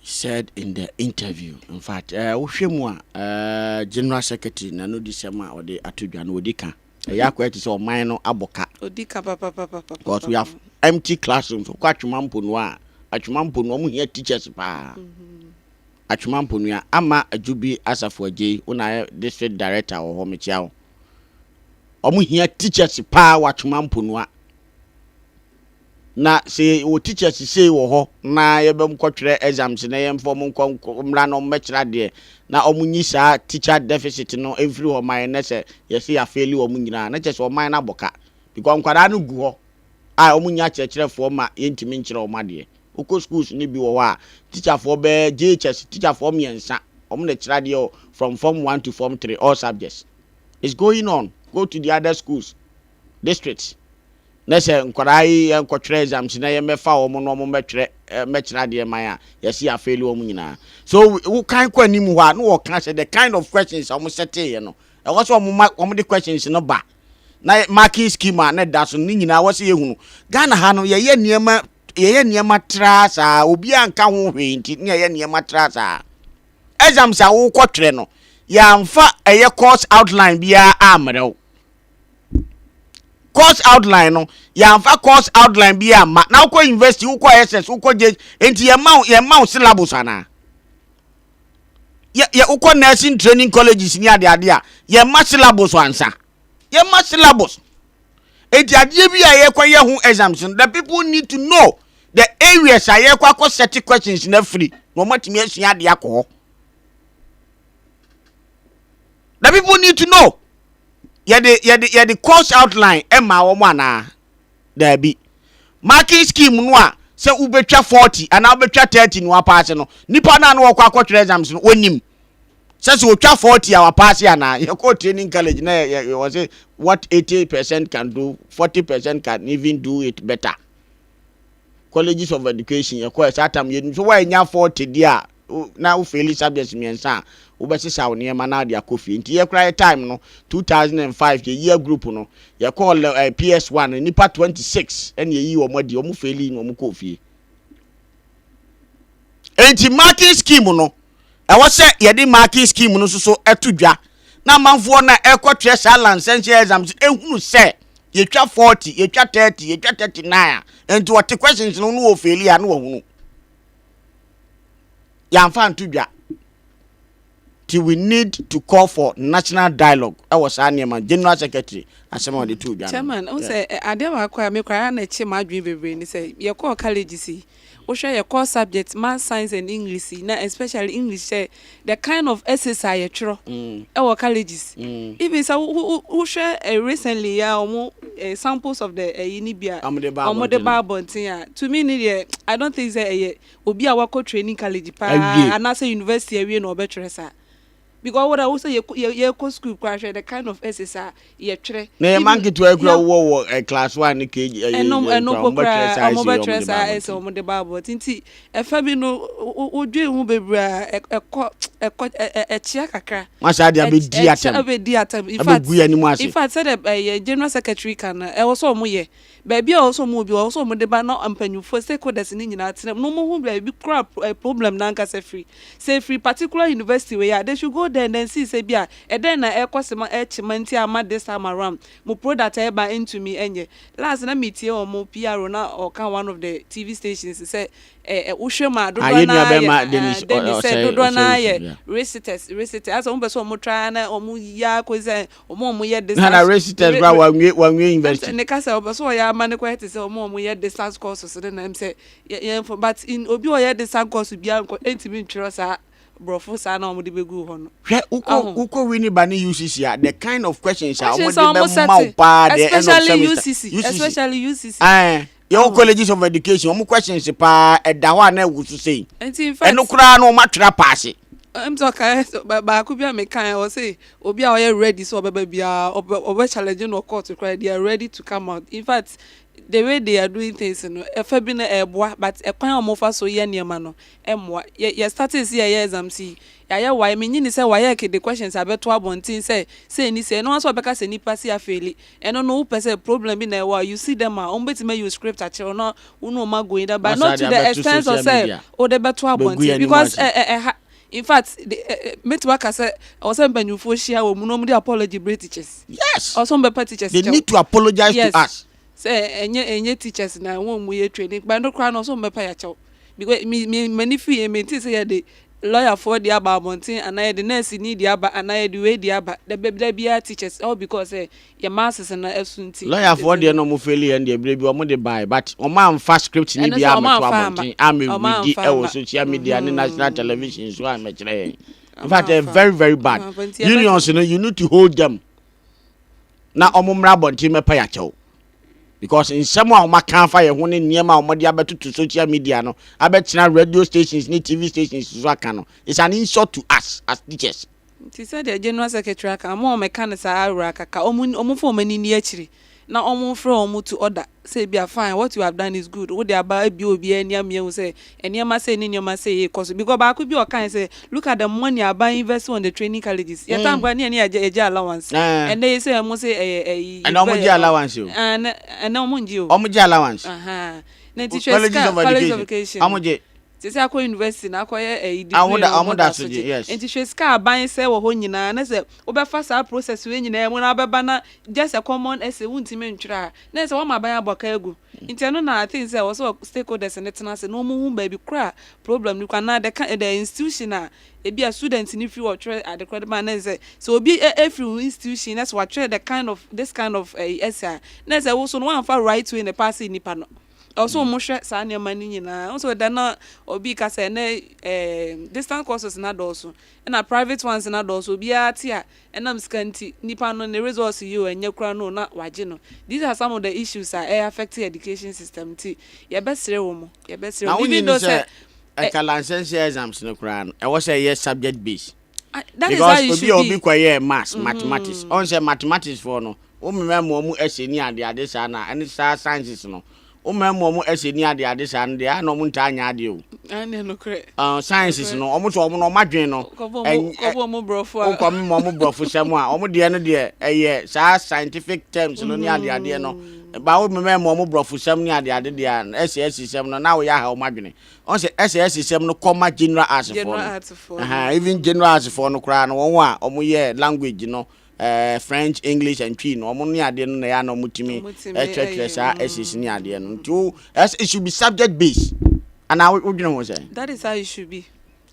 he said in the interview. In fact, eh, wohwɛ mu a, eh, General Secretary na no di sɛm a ɔde ato dwa no ɔdi ka. Ɛyɛ akɔyɛ te sɛ ɔman no abɔ ka. Ɔdi ka papapapapa. Because we have empty classrooms. Wokɔ Atwema Mponua a, Atwema Mponua, wɔn hia teachers paa. Atwema Mponua, ama Adwubi Asafo Agyei, wo na ayɛ district director wɔ hɔ, mekyia wo. Wɔn hia teachers paa wɔ Atwema Mponua. Na sɛ yɛwɔ teacher sesei wɔ hɔ na yɛbɛ ɔmo kɔ twerɛ exams na yɛn fa ɔmo nkɔ mmra na ɔmo bɛ kyerɛ adeɛ na ɔmo nyi saa teacher deficit no mfiri hɔ ma yɛn na sɛ yɛse yɛ afeeli ɔmo nyinaa na kyerɛ sɛ ɔman no abɔ ka because nkwadaa no gu hɔ a ɔmo nnya akyerɛkyerɛfoɔ ma yɛn ntumi nkyerɛ ɔmo adeɛ. Wokɔ schools no bi wɔ hɔ a teacher foɔ bɛ JHS teacher foɔ mmiɛnsa ɔmo na ɛkyerɛ adeɛ wɔ from form one to form three all subjects it's going on go to the other schools districts Na sɛ nkwadaa yi yɛnkɔtwerɛ exams na yɛmmɛfa wɔn na wɔmmɛtwerɛ mmɛkyerɛ adeɛ man a, yɛse yɛafeeli wɔn nyinaa. So wokan kɔ anim hɔ a na wɔka sɛ the kind of questions a wɔsɛteeɛ no, ɛwɔ sɛ wɔma wɔde questions no ba na marking scheme a na ɛda so no ne nyinaa ɛwɔ sɛ yɛhunu. Ghana ha no yɛyɛ nneɛma yɛyɛ nneɛma traa saa obiara nka ho hwee nti na yɛyɛ nneɛma traa saa. Exams a wokɔtwerɛ no yɛamfa ɛyɛ course outline biara ammrɛ wo. course outline no yɛamfa course outline bi amma na wokɔ university wokɔ ss wokɔ gye nti yɛma wo yɛma wo syllabus anaa yɛ yɛ wokɔ nursing training colleges ne ade ade a yɛma syllabus ansa yɛma syllabus nti adeɛ bi a yɛkɔ yɛ ho exams no the people need to know the areas a yɛkɔ akɔ set questions na afiri na wɔatumi asua adeɛ akɔ hɔ na people need to know yɛde yɛde yɛde course outline ɛma wɔn anaa daabi marking scheme no a sɛ wobɛtwa forty anaa wobɛtwa thirty na wapaase no nipa naa na wɔkɔ akɔtwerɛ exams no wɔnim sɛ sɛ wɔtwa forty a wapaase anaa yɛkɔ training college na yɛ yɛ wɔ sɛ what eighty percent can do forty percent can even do it better colleges of education yɛkɔ ɛsɛ atam yɛnim so wɔanya forty deɛ a. wo na wo faili subjects mmiɛnsa a wobɛsesa wo nneɛma na wode akɔ fie nti yɛ koraa yɛ time no two thousand and five yɛ year group no yɛ kɔɔ lɛ ɛɛ PS one no nnipa twenty six ɛna yɛ yii wɔn adi wɔn faili na wɔn kɔɔ fie nti marking scheme no ɛwɔ sɛ yɛde marking scheme no nso so ɛto dwa na amanfoɔ na ɛkɔtwerɛ saa lansɛnhyɛ exam so ehunu sɛ yɛtwa forty yɛtwa thirty yɛtwa thirty nine a nti wɔte questions no no wɔ faili a no wɔhunu. yɛamfa anto dwa nti we need to call for national dialogue ɛwɔ saa nneɛma general secretary asɛm a wɔde too dwa no. Chairman, ɔhu sɛ adeɛ baako a me koraa na ɛkye m'adwene bebree ne sɛ yɛkɔɔ colleges yi, wohwɛ yɛ core subjects, maths, science and English yi na especially English sɛ the kind of essays a yɛtwerɛ wɔ colleges, even sɛ wohwɛ recently yi ara wɔn samples of the ɛyi no bi a wɔn de ba abɔnten a, to me ne deɛ I don't think sɛ ɛyɛ obi a wakɔ training college paa anaasɛ university awie na ɔbɛtwerɛ saa. Because wo dɛ wo sɛ yɛkɔ school koraa hwɛ the kind of essays a yɛtwerɛ. Na yɛn mma nketewa yi koraa wowɔ wɔ eh, class one ne KG ɛyɛ eh, ɛnom ɛno mpo koraa wɔn bɛtwerɛ saa ɛsɛ wɔn de bible ti nti ɛfa bi no wodwen ho bebree a ɛkɔ ɛkɔ ɛkyea kakra. wɔn saa de abɛdi atam ɛkyɛ abɛdi atam in fact abɛgu yɛn anim ase in fact sɛdeɛ ɛyɛ general secretary kan na ɛwɔ sɛ wɔn yɛ Baabi a ɔwɔ sɛ ɔmo wɔ bi, ɔwɔ sɛ ɔmo de ba na mpanyinfoɔ, stakeholders, no nyinaa tena mu na ɔmo hu baabi koro a problem no ankasa firi. Sɛ efiri particular university wei a, they should go there and then see sɛ bi a ɛdɛn na ɛrekɔ se ma ɛrekye ma nti a ama this time around mo product a ɛreba ntumi nyɛ. Last na metie wɔn PRO na ɔka one of the TV stations sɛ eh wo hwɛ mu a Ah, dodoɔ yɛn no nua ara yɛ bɛma ah Dennis ɔ- Dennis sɛ ɔsɛe dodoɔ no ɔsɛe ara yɛ nsu. Yeah. reciters, reciters, asɛ wɔn pɛ sɛ wɔn try ara na wɔn yɛ ara kɔsi sɛ wɔn a wɔyɛ distance. na na resistance kura wanwie wanwie university. ɛm sɛ ne kasa ɔbɛ so ɔyɛ ama ne kɔ ɛte sɛ wɔn a wɔyɛ distance courses ne na ɛm sɛ yɛ yɛn fɔ but in obi a ɔyɛ distance course biara nkɔ ɛntumi ntwerɛ saa borɔfo saa na wɔn de bɛ gu hɔ no. hwɛ wokɔ wokɔ wi ne ba ne ucc a the kind of questions a wɔn de bɛ ma wo paa deɛ ɛnɔ sɛmisa ucc especially ucc ɛn. yɛwɔ oh. colleges of education wɔn questions paa ɛda hɔ a na ɛwɔ so sei ɛno koraa no wɔn atwerɛ apaase. ɛm sɛ ɔkae baako bi a mekae ɔ sɛ obi a ɔyɛ ready sɛ ɔbɛba biara ɔbɛ challenge no court koraa they are ready to come out in fact the way they are doing things no ɛfa bi no ɛboa but ɛkwan a wɔfa so yɛ nneɛma no ɛmmoa yɛ yɛ starting si yɛyɛ exam si yɛayɛ wae menyi ni sɛ wayɛ kede questions abɛto abɔnten sɛ sɛ ni sɛ ɛno nso ɔbɛka sɛ nipa si afeeli Ɛno no wopɛ sɛ problem bi na ɛwɔ a you see them a wɔn bɛtumi ayi wo script akyerɛ wo na wo ne wɔn ago in that but not to the extent of sɛ wode bɛto abɔnten because ɛha in fact mɛtumi aka sɛ ɛwɔ sɛ mpanyinfoɔ hyia wɔn mu na wɔn de apology brɛ teachers yes ɔsɛ wɔn bɛpa teachers kyɛw they need to apologize yes. to us sɛ ɛnyɛ ɛnyɛ teachers na wɔn mu yɛ training but no koraa na ɔsɛ wɔn bɛpa yɛ akyɛw because me me m'ani fi yɛ mente sɛ yɛ de lɔyafoɔ de aba abɔnten anaa yɛde nɛɛseni de aba anaa yɛde wei de aba da bɛ da biara teachers all because sɛ yɛ masses no ɛso nti. Lɔyafoɔ deɛ na wɔn faili yɛn deɛ berɛ bi wɔn de baeɛ but wɔn amfa script no Ɛno biara sɛ wɔn ammɛto amfa amma abɔnten ammɛ wɔn readi amfa ɛwɔ amma social media ne national mhm television so ammɛkyerɛ yɛn in wɔn fact ɛyɛ amfa very very wɔn bad amfa nti yɛbɛka unions no you need to hold them na wɔmmra abɔnten mmɛpa yɛn akyɛw. Because nsɛm a wɔaka afa yɛn ho ne nneɛma a wɔde abɛtoto social media no, abɛtena radio stations ne TV stations so aka no, is an insult to us as teachers. Nti sɛdeɛ General Secretary aka, wɔn a wɔka no saa ara kaka, wɔmfa wɔn ani nni akyiri na wɔmfrɛ wɔn to order. Sɛ ebia fine, what you have done is good, wode aba abue obiara ani ama yɛahu sɛ nneɛma sei ne nneɛma sei rekɔ so. Because baako bi a ɔkae sɛ, look at the money aban invest on the training colleges. Yɛn time koraa na yɛne yɛgye yɛgye allowance. Ɛnnɛ yi sɛ wɔn se ɛyɛ ɛyi university. Ɛnnɛ wɔn gye allowance o. Ɛnnɛ ɛnnɛ wɔn ngye o. Wɔn gye allowance. Ahaa. Na nti hwɛ sika, colleges of education. Wɔn gye. Sɛ sɛ akɔ university na akɔyɛ ɛyi degree no wɔn mo da asogye yes nti hwɛ sika aban sɛ wɔ hɔ nyinaa na sɛ wobɛfa saa process wei nyinaa mu na wobɛba na just a common essay wontumi ntwerɛ a na sɛ wɔma aban abɔ ka agu nti ɛno na I think sɛ wɔ sɛ stakeholders no tena ase na wɔn hu baabi korɔ a problem no kɔ anaa the kind the institution a ebi a student no firi wɔtwerɛ ade korɔ de ba na sɛ sɛ obi efiri ho institution na sɛ wɔatwerɛ the kind of this kind of ɛyi essay a na sɛ woso no wɔamfa right way na pass nnipa no. Ɛwɔ sɛ wɔhwɛ saa nneɛma no nyinaa. Ɛwɔ sɛ ɛda na obi ka sɛ ɛnɛ ɛɛ distant courses na dɔɔso, ɛna private ones na dɔɔso. Obiara te a ɛnam sika nti nipa no ne results yi o ɛnyɛ kura no na wagye no. These are some of the issues a ɛyɛ affect education system nti yɛbɛsrɛ wɔn, yɛbɛsrɛ wɔn even though sɛ. Na wonnim sɛ ɛka lansense exams no koraa no ɛwɔ sɛ ɛyɛ subject based. Because obi a obi kɔ yɛ maths, mathematics, ɔn sɛ mathematics foɔ no, wo mma mu ɔmo ɛsɛ ni ade ade saa na ɛne saa sciences no, wo mma mu ɔmo ɛsɛ ni ade ade saa no deɛ a na ɔmo ntaa nyɛ adeɛ o. Ɛne nokorɛ. Ɛn sciences no, ɔmo sɛ ɔmo no ɔmo adwene no. Kɔbɔ ɔmo kɔbɔ ɔmo brɔfo a. Wokɔ ɔmo ɔmo brɔfo sɛm a, ɔmo deɛ no deɛ ɛyɛ saa scientific terms no ni ade adeɛ no, ba wo mma mu ɔmo brɔfo sɛm ni ade ade deɛ a ɛsɛ ɛsɛ sɛm no na wo yɛ aha ɔmo adwene. Ɔn sɛ SS nsɛm no kɔ ma General Arts foɔ no. Ahaa even General Arts foɔ no koraa no wɔn a wɔn yɛ language no eh, French, English and Twi no wɔn ne adeɛ no na ɛyɛ a na wɔn tumi ɛkyerɛkyerɛ saa SS ne adeɛ no. Nti wo ɛs it should be subject based. Anaa wo dwene ho sɛn? That is how it should be.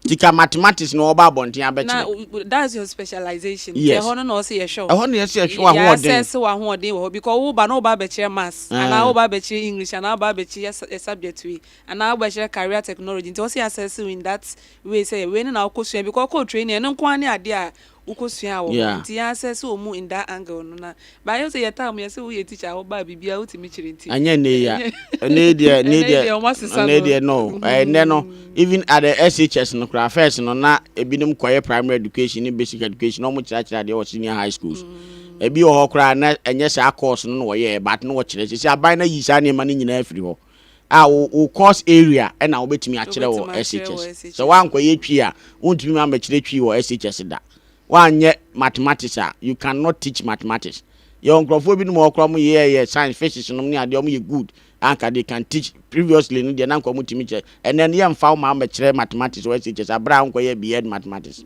Sika mathematics na wɔba abɔnten abɛkyerɛ. Na that's your specialization. Yes. Ɛhɔ no na ɔsɛ yɛhwɛ wo. Ɛhɔ na yɛsɛ yɛhwɛ w'ahoɔden. Yɛ assess w'ahoɔden wɔ hɔ because wo ba na wo ba abɛkyerɛ maths mm. anaa wo ba abɛkyerɛ English anaa wo ba abɛkyerɛ subject wei anaa wo bɛkyerɛ career technology nti ɔsɛ yɛ assess in that way sɛ wei ne na wokɔ sua because ɔkɔ training ɛno nko ara ne adeɛ a Wokɔ suaa wɔ hɔ nti yɛn asɛ sɛ ɔmu in that angle no na but ayɛ sɛ yɛ time yɛsɛ wo yɛ teacher a wo baa biribi a wo tumi kyerɛ nti. Ɛnyɛ ɛnɛ yi a ɛnɛ yi deɛ ɛnɛ yi deɛ ɛnɛ yi deɛ no ɛnɛ no even at the SHS no koraa first no na ebinom kɔ yɛ primary education ne basic education na wɔn kyerɛ akyerɛ adeɛ wɔ senior high schools ebi wɔ hɔ koraa na ɛnyɛ saa course no na wɔyɛ but na wɔkyerɛ sisi aban na yi saa nneɛma no nyinaa firi hɔ. a wo wo course area ɛna wobɛtumi akyerɛ wɔ SHS. Sɛ woankɔyɛ Twi a, wontumi ma mmɛkyerɛ Twi wɔ SHS da. Woanyɛ mathematics a, you can not teach mathematics. Yɛwɔ nkorɔfoɔ binom wɔ hɔ koraa wɔn yɛ yɛ science, physics nom ne adeɛ wɔn yɛ good a nka they can teach. Previously no deɛ na nka wɔn tumi kyerɛ. Ɛnɛ no yɛmfa wo ma mmɛkyerɛ mathematics wɔ SHS aberɛ a wonkɔyɛ BEd mathematics.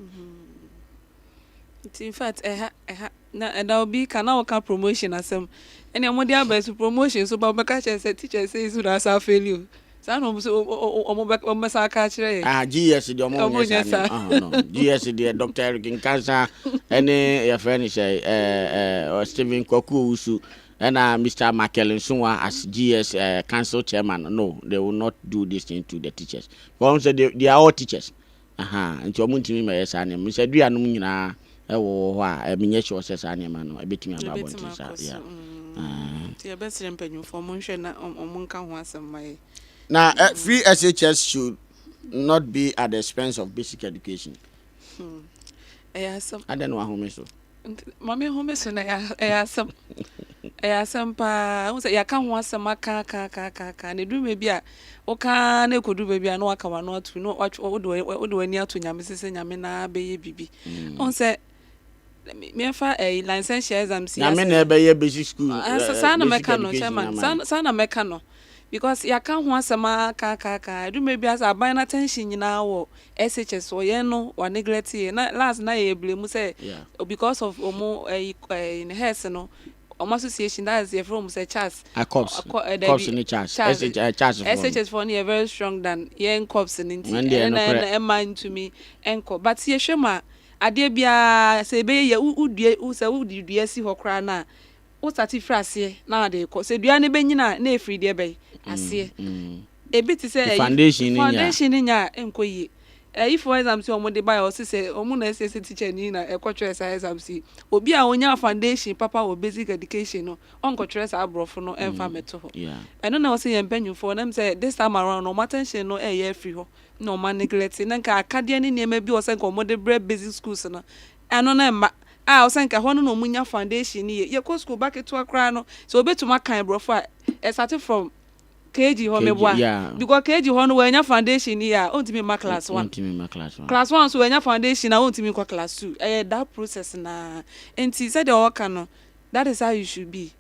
Nti infact ɛha ɛha na ɛda obi ka na woka promotion asɛm ɛnea wɔde aba yi so promotion so ba wɔbɛka kyerɛ sɛ teacher sei so na asa afeli o saa na wɔn so wɔn bɛ wɔn bɛsa aka akyerɛ yɛn. Ah GS deɛ wɔn nyɛ saa ne ah no GS deɛ Dr Eric Nkansa ɛne yɛfrɛ ne sɛ ɛɛ ɛɛ Stephen Kwaku Owusu ɛna Mr Michael Nsunwa as GS ɛɛ eh, council chairman no they will not do this thing to the teachers wɔn sɛ they, they are all teachers Ahaa, nti ɔmo ntumi mmɛyɛ saa nneɛma, sɛ dua nom nyinaa ɛwowɔ hɔ a, ɛm nyɛ sure sɛ saa nneɛma no ɛbɛtumi aba abɔnten saa, yeah, ahaa. Nti yɛbɛsrɛ mpanyinfoɔ ɔmo nhwɛ na ɔmo nka ho asɛm mma yɛn. Na free SHS should not be at the expense of basic education. Hmm, ɛyɛ asɛm. Adɛn na wahome so? Nti ma me home so na ɛyɛ asɛm ɛyɛ asɛm paa wohu sɛ yɛaka ho asɛm aka aka aka aka aka na ɛduru baabi a woka na ɛkɔduru baabi a na waka wano ato na wode w'ani ato nyame sɛ sɛ nyame na bɛyɛ biribi wohu sɛ meɛfa ɛyi licentiate exam si nyame na ɛbɛyɛ basic school saa na mɛka no chairman saa na mɛka no because yɛaka ho asɛm ara kaakaaka, ɛdu mmerɛ bi a sɛ aban no attention nyinaa wɔ SHS soɔ, yɛn no wa neglect yɛn, na last na yɛyɛ blame sɛ Yeah. because of wɔn ɛyi ɛyi hɛs no, wɔn association that is yɛfrɛ wɔn sɛ CHAS, Ah, cops. Ɔ- kɔ- eh, Cops dabi, ne CHAS. CHAS, SH- eh, CHAS foɔ no. SHS foɔ no yɛ very strong than yɛn cops no nti, Wɔn deɛ ɛno na nokorɛ. ɛna ɛma ntumi nkɔ, but yɛhwɛ mu a, adeɛ biara sɛ ɛbɛyɛ yie a, wo- wodua, wo- sɛ wode dua si hɔ koraa no a, wo sate firi aseɛ na ade rekɔ sɛ dua no bɛnyini a na ɛfiri deɛ bɛn aseɛ ɛbi te sɛ foundation no nyɛ a ɛnkɔ yie ɛyi for exams yi wɔn de baeɛ wɔsi sɛ wɔn na ɛsɛ sɛ teacher ni na ɛkɔ twerɛ saa exams yi obi a wɔnya foundation papa wɔ basic education no ɔnkɔ twerɛ saa aborɔfo no ɛnfa mɛto hɔ ɛno na wɔsi yɛn mpanyinfoɔ nam sɛ this time around wɔn attention no ɛyɛ afiri hɔ na wɔn neglect na nka akadeɛ ne nneɛma bi wɔ sɛ nka wɔn de brɛ basic schools no Ɛno na ɛma a ɔsɛ nka ɛhɔ no na wɔnya foundation no yie. Yɛkɔ sukuu, ba ketewa koraa no, sɛ wɔbɛtumi akan borɔfo a, ɛsate from KG hɔ, meboa? Because KG hɔ no wannya foundation no yie a, ɔntumi mma class one. Class one nso wannya foundation a, ɔntumi nkɔ class two. Ɛyɛ that process no ara. Nti sɛdeɛ wɔka no, that is how it should be.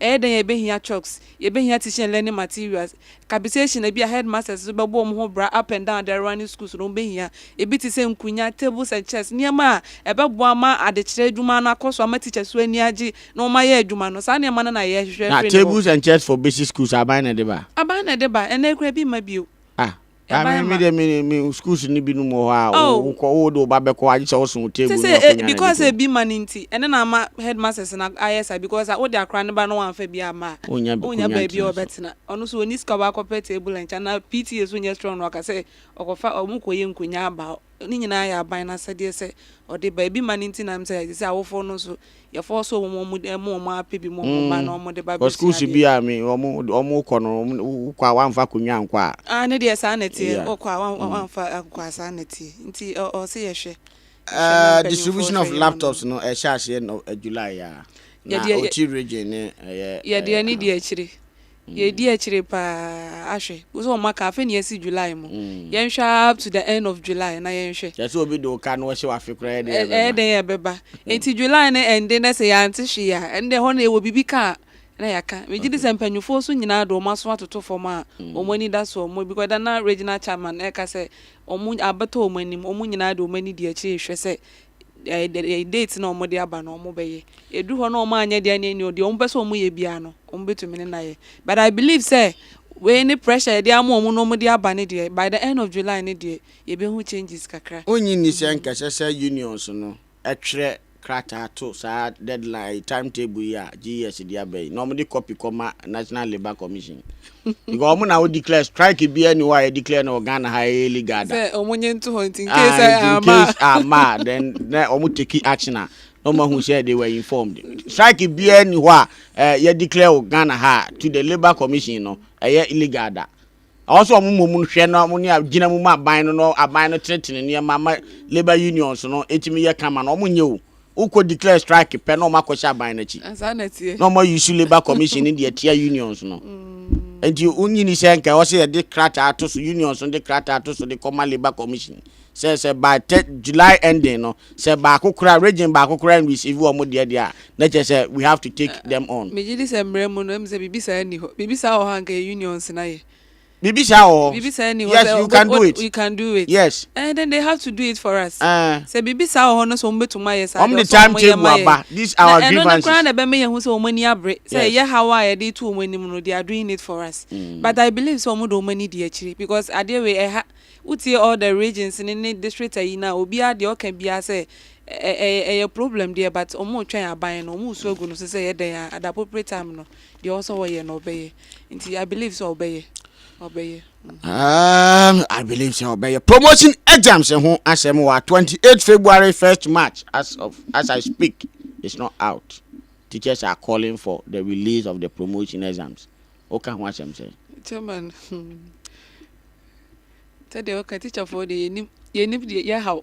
Ɛyɛ dɛn a yɛbɛhia chalks, yɛbɛhia teaching and learning materials, capitation a ebia headmasters nso bɛbɔ wɔn ho bra up and down their running schools na wɔbɛhia, ebi te sɛ nkunya, tables and chairs, nneɛma a ɛbɛboa ama adekyerɛ adwuma no akɔ so, ama teachers nso ani agye na wɔayɛ adwuma no. Saa nneɛma no na yɛhwehwɛ Na firi ne hɔ. tables and chairs for basic schools, aban na ɛde ba? Aban na ɛde ba, ɛnnɛ koraa ebi mma bio. Ah, Maame mi de mi mi schools ni bi no mu hɔ a o kɔ o de o ba bɛ kɔ agye sɛ o sun table ni wa ko nya na because ebi ma ni nti ɛne na ama headmasters na ayɛ sa because a o de akora ne ba no wa nfa bi ama a o nya baabi a ɔbɛ tena ɔno so oni sika ɔbɛ akɔ pɛ table nkyɛn na PTA so nyɛ strong na ɔka sɛ ɔkɔ fa ɔmo kɔ yɛ nkonya aba hɔ. Ne nyinaa yɛ aban no asɛdeɛ sɛ ɔde ba. Ebi ma no nti na ɛm sɛ te sɛ awofoɔ no nso yɛ fɔɔso wɔn wɔn de ɛmo wɔn ara pɛ bi ma wɔn ba na wɔn de ba bɛ sua adeɛ. Wɔ school bi a wɔn wɔn kɔ no wɔn wo kɔ a wɔn anfa akonnwa ankɔ a. Ah ne deɛ saa na ɛteɛ wɔ kɔ a wɔn wɔn anfa akokɔ a saa na ɛteɛ nti ɔ ɔ ɔsɛ yɛhwɛ. Eh distribution of laptops no ɛhyɛ aseɛ no July a na Oti region ne ɛyɛ. Yɛdeɛ ne di akyire. Yɛdi akyire paa ahwɛ. Wohu sɛ wɔaka afe na yɛasi July mu. Yɛnhwɛ ara up to the end of July na yɛnhwɛ. Kyerɛ sɛ obi de wo ka na ɔhyɛ wo afe koraa ɛyɛ dɛn ɛbɛba? Ɛyɛ dɛn ɛbɛba. Enti July no ɛnde na sɛ yɛante hwee a, ɛnde ɛhɔ no yɛwɔ biribi ka a na yɛaka. Megye di sɛ mpanimfoɔ nso nyinaa de wɔn aso atoto fam a wɔn ani da soɔ. Wɔn because ɛda na Regional Chairman ɛreka sɛ wɔn abɛtɔ wɔn anim. Wɔn nyinaa de wɔn ani di akyire rehwɛ sɛ date no a wɔde aba no wɔbɛyɛ. Ɛduru hɔ na wɔanyɛ deɛ ɛnneɛ nniɔ, deɛ wɔpɛ sɛ wɔyɛ biara no, wɔbɛtumi ne no ayɛ. But I believe sɛ wei ne pressure yɛde ama wɔn na wɔde aba no deɛ, by the end of July no deɛ, yɛbɛhu changes kakra. Wonnye nni sɛ anka ɛsɛ sɛ unions no twerɛ krataa to saa deadline, time table yi a GES de aba yi, na wɔde copy kɔma National Labour Commission? Because ɔmo na o declare strike bi ɛni hɔ a yɛ declare no wɔ Ghana ha ɛyɛ illegal da. Sɛ ɔmo nye nto hɔ nti in case a ama. In case ama then na ɔmo take action a na ɔmo ahu sɛ they were informed. Strike bi ɛni hɔ a ɛɛ yɛ declare wɔ Ghana ha to the labour commission no ɛyɛ illegal da. Ɛwɔ sɛ ɔmo mmom hwɛ na ɔmo ne a gyina mu ma aban no na aban no tenetene nneɛma ma labour unions no etimi yɛ kama no ɔmo nyɛ o. Wo kɔ declare strike pɛ na ɔmo akɔ hyɛ aban n'akyi. Na ɔmo ayi su labour commission ne deɛ tia unions no. Nti wo nyi ni sɛ nka ɔsɛ yɛ de krataa ato so unions no de krataa ato so de kɔ ma labour commission. Sɛ sɛ by third July ending no sɛ baako kora region baako kora and receive ɔmo deɛ deɛ a na kyɛ sɛ we have to take them on. Megye di sɛ mmrɛ mu no ɛmu sɛ biribi saa nni hɔ. Biribi saa wɔ hɔ a nka yɛ unions na yɛ. Biribi saa wɔ hɔ. Biribi saa nni hɔ Yes, sɛ you can do it. you can do it. Yes. Eh, then they have to do it for us. Eh. Sɛ biribi saa wɔ hɔ no sɛ wɔn bɛtumi ayɛ saa Wɔn de time table aba. These are our grievances. Na ɛno no koraa na ɛbɛma yɛhu sɛ wɔn ani abere. Sɛ ɛyɛ haw a yɛde to wɔn anim no, they are doing it for us. Mm. But I believe sɛ wɔn de wɔn ani di akyiri because adeɛ wei ɛha wotie all the regions ne ne district ayi na obiara deɛ ɔka biara sɛ ɛyɛ problem deɛ but wɔn retwɛn aban no wɔn resu agu no so sɛ yɛ dɛn a at the appropriate time no. Deɛ ɔwɔ sɛ ɔyɛ no ɔbɛyɛ nti I believe sɛ ɔbɛyɛ ɔbɛyɛ. Um, I believe sɛ ɔbɛyɛ promotion exams ho asɛm wɔ 28 February 1st March as of as I speak it's not out teachers are calling for the release of the promotion exams woka ho asɛm sɛ. Chairman hmm. sɛdeɛ woka teacherfoɔ deɛ yɛnim yɛnim deɛ yɛhaw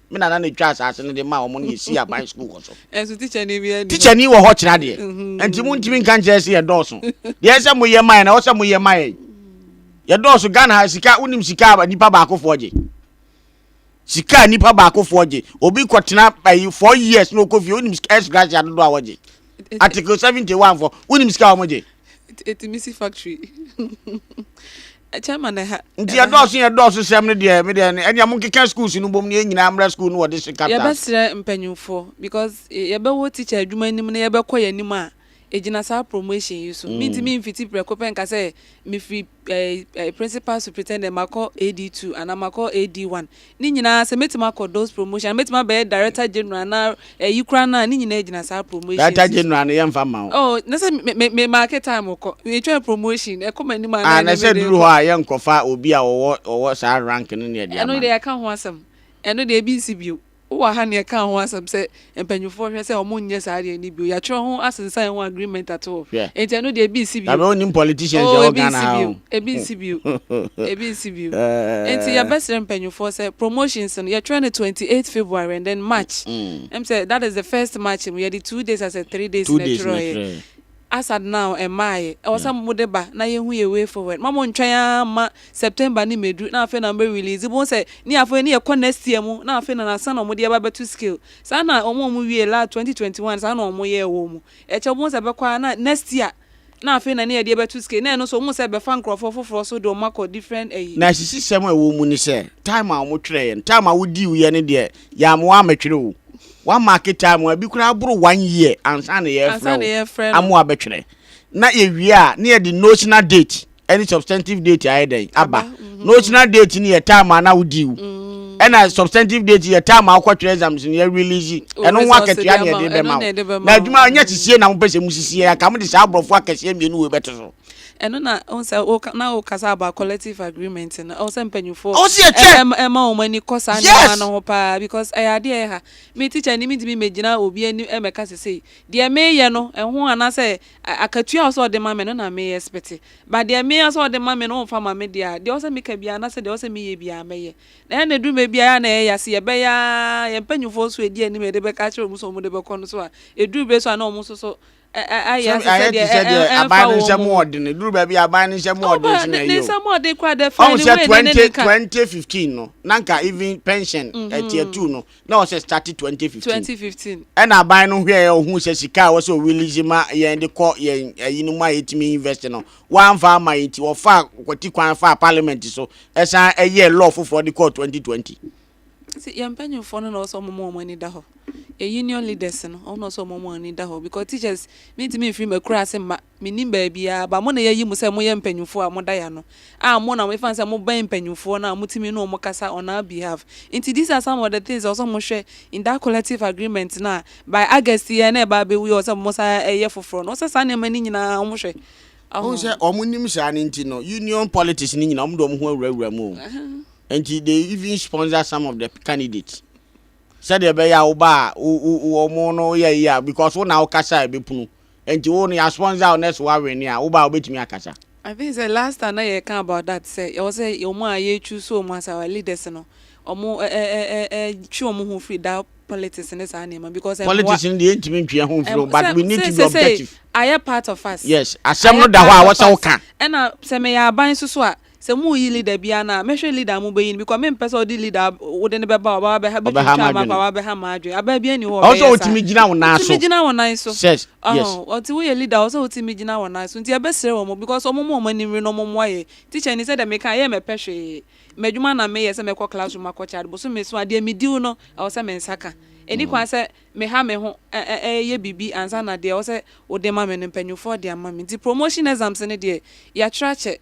Me nana na etwa asase no de maa wɔn na yɛsii aban sukuu wɔ so. Ɛnso tikyani bi adi. Tikyani wɔ hɔ kyerɛ adeɛ. Mhm. Nti mo ntumi nka nkyerɛ sɛ yɛdɔɔso. Deɛ ɛsɛ mo yɛ mayɛ na ɔsɛ mo yɛ mayɛ. Yɛdɔɔso Ghana ha sika wonim sika a nipa baakofoɔ gye. Sika a nipa baakofoɔ gye. Obi kɔtena ayi eh, four years na ɔkɔ fie wonim sika S gratia dodoɔ a wɔgye. Article seventy one fɔ wonim sika a wɔgye. Ɛtumi si factory. Nti yɛdɔɔso yɛn dɔɔso sɛm no deɛ me deɛ ɛnea mo nkeka schools no bom ne yɛn nyinaa mmra school no wɔde se capital. Yɛbɛsrɛ mpanyinfoɔ because yɛbɛwɔ teacher adwuma anim na yɛbɛkɔ yɛn anim a egyina saa promotion yi so me ntumi mfiti prɛko pɛ nka sɛ mefiri ɛɛ principal superintendent makɔ AD two anaa makɔ AD one Ne nyinaa sɛ mɛtumi akɔ those promotion anaa mɛtumi abɛyɛ director general anaa ɛyi koraa no a ne nyinaa gyina saa promotions yi so. Director general no yɛnfa mma wo. Oh na sɛ me me me marke time kɔ me twɛn promotion ɛkɔ m'anim a na ɛne me de kɔ. Ah na sɛ ɛduru hɔ a yɛnkɔfa obi a ɔwɔ ɔwɔ saa rank no na yɛde ama no. Ɛno deɛ yɛaka ho asɛm ɛno deɛ ebi nsi bio wowɔ ha na yɛkaa ho asɛm sɛ Mpanyimfoɔ hwɛ sɛ ɔmo nyɛ saa adeɛ no bio. Yatwerɛ ho asensan ho agreement ato hɔ. Hwɛ. Enti ɛno deɛ ebi nsi bio. Nyame onim politicians Oh, ɛwɔ ebi Ghana nsi ha bio. o. Ebi nsi bio. Ebi nsi bio. Enti Ɛɛɛ. yɛbɛsrɛ mpanyimfoɔ sɛ promotions no yɛtwerɛ no twenty eight February and then March. Mm. Ɛm sɛ that is the first March mu yɛde two days asɛ three days Two na days na ɛtwerɛeɛ. ɛtwerɛeɛ. As at now, ɛmmaeɛ. Ɛwɔ sɛ mode ba na yɛhu yɛn way forward. Mma montwɛn ara mma September no mmɛduru na afei na mobɛ release. Wobɛhu sɛ ne afei ne yɛkɔ next year mu na afei na na ansa na wɔde aba abɛto scale. Saa na wɔn a wɔwiee la 2021 saa na wɔyɛɛ wɔn mu. Ɛkyɛ wobɛhu sɛ ɛbɛkɔ ara na next year na afei na ne yɛde abɛto scale. Na ɛno nso wohu sɛ ɛbɛfa nkurɔfoɔ foforɔ so de wɔn akɔ different ayi. Na asisisɛm a ɛwɔ mu ne sɛ, time a wɔtwerɛeɛ no, time a wodiiuiɛ no deɛ, Yea, mowɔ amatwerɛ o. Wa mark time a, ebi koraa aboro one year ansa na yɛrefrɛ Ansa na wo. yɛrefrɛ no. Amoa bɛtwerɛ. Na yɛwie a, na yɛde notional date ne substantive date ayɛ dɛn? Aba. Notional date no yɛ time a na wodii wo. Ɛna substantive date yɛ time a wokɔtwerɛ exams no, yɛrelease Wo ɛno ho results de akatua na ama wo. yɛde Ɛno bɛma na wo. yɛde bɛma Na wo. adwuma no, ɛnyɛ sisie na mopɛ sɛ mosisi, anka mode saa aborɔfo akɛseɛ mmienu wei bɛto so. Ɛno na ohun sɛ woka na wokasa about collective agreement no. Ɛwɔ sɛ mpanyinfoɔ Ɔwɔ sɛ yɛkyɛ. ɛm ɛma wɔn ani kɔ saa nneɛma Yes. no ho paa because ɛyɛ adeɛ a ɛha. Me teacher ni mi ntumi mɛgyina obi anim ɛmɛka sɛ sei. Deɛ meyɛ no ɛho anaasɛ a- akatua a ɔwɔ sɛ ɔde ma me no na me expect. But deɛ me ɔwɔ sɛ ɔde ma me no ɔmfa ma me deɛ a, deɛ ɔwɔ sɛ meka biara anaasɛ deɛ ɔwɔ sɛ meyɛ biara mɛyɛ. Na ɛyɛ a na ɛduru mmerɛ bi a ɛyɛ a na ɛyɛ ya se yɛbɛyɛ ara yɛn mpanyinfoɔ nso edi anim a yɛde bɛka akyerɛ wɔn sɛ wɔn de bɛkɔ no so a ɛduru bɛ so a na wɔn nso so Ayɛ te sɛ deɛ ɛmfa wɔn. Aban no nsɛm wɔ den. Duru baabi aban no nsɛm wɔ den so na ɛyɛ o. Ne nsɛm wɔ den koraa dɛ fɛn ne wei ne ne ne ka. Twenty fifteen no na nka even pension ɛtiɛ two no na ɔsɛ start twenty fifteen. Twenty fifteen. Ɛna aban no hwɛ yɛ ohun sɛ sika a wɔsɛ o release ma yɛn de kɔ yɛn ɛyi no mu a yɛtumi invest no wɔanfa ama yɛn ti wɔfa kwati kwan fa parliament so ɛsan ɛyɛ law foforɔ de kɔ twenty twenty. Nti yɛn mpanyinfoɔ no na ɔwɔ sɛ wɔn ma wɔn ani da hɔ. Yɛn union leaders no wɔn na ɔwɔ sɛ wɔn ma wɔn ani da hɔ because teachers me ntumi nfiri m'akura ase mma me nim baabiara but mo na yɛyi mo sɛ mo yɛ mpanyinfoɔ a mo da yɛano a mo na efan sɛ mo bɛn mpanyinfoɔ no a mo tumi ne wɔn kasa on our behalf nti these are some of the things a ɔwɔ sɛ wɔn hwɛ in that collective agreement no a by August yɛ na ɛba abɛwie ɔwɔ sɛ wɔn san ɛyɛ foforɔ no ɔwɔ sɛ saa nneɛma no nyinaa wɔn hwɛ. Wohu sɛ wɔn nim saa no nti no union politics no nyinaa wɔn de wɔn ho awurawura mu o. Nti they even sponsor some of the candidates sɛdeɛ ɛbɛyɛ a wo ba a wɔn no yɛ yie a because wo na wokasa a ɛbɛpunu nti wo no yɛ sponsor wo nurse wawene a wo ba a wobɛtumi akasa. I think sɛ last time na yɛka about that sɛ yɛwɔ sɛ wɔn a yɛ choose wɔn as our leaders no wɔn ɛ ɛ ɛ ɛ twe wɔn ho firi that politics ne saa nneɛma because ɛmmoa. Politics no deɛ yɛntumi ntwe yɛn ho mfiri o but we need to be objective. Ayɛ part of us. Yes asɛm no da hɔ a wɔsɛ wo ka. Ɛna sɛ meyɛ aban soso a. Sɛ mo reyi leader bi a na mɛhwɛ leader a mo bɛyi no because me mpɛ sɛ ɔde leader a wode no bɛba ɔba wabɛ ha bɛtwitwa ama akɔ a wabɛ ha ma adwene abaa biara nni hɔ a ɔbɛyɛ saa. Ɔwɔ sɛ ɔtumi gyina wo nan so. Ɔtumi gyina wo nan so. Sɛ yes. Ɔte woyɛ leader a ɔwɔ sɛ ɔtumi gyina wo nan so nti ɛbɛ srɛ wɔn because wɔn ma wɔn ani nwere na wɔn mmoa yɛ teacher ni sɛdeɛ meka yɛ mɛpɛ hwee madwuma na meyɛ sɛ mɛkɔ class room akɔ kyɛ ade bosome so a deɛ me diw no ɛwɔ sɛ me nsa ka ɛni kwan sɛ meha me ho ɛyɛ biribi ansa na deɛ ɛwɔ sɛ wode ma me no mpanyinfoɔ de ama me nti promotion exams no deɛ yɛatwerɛ akyɛ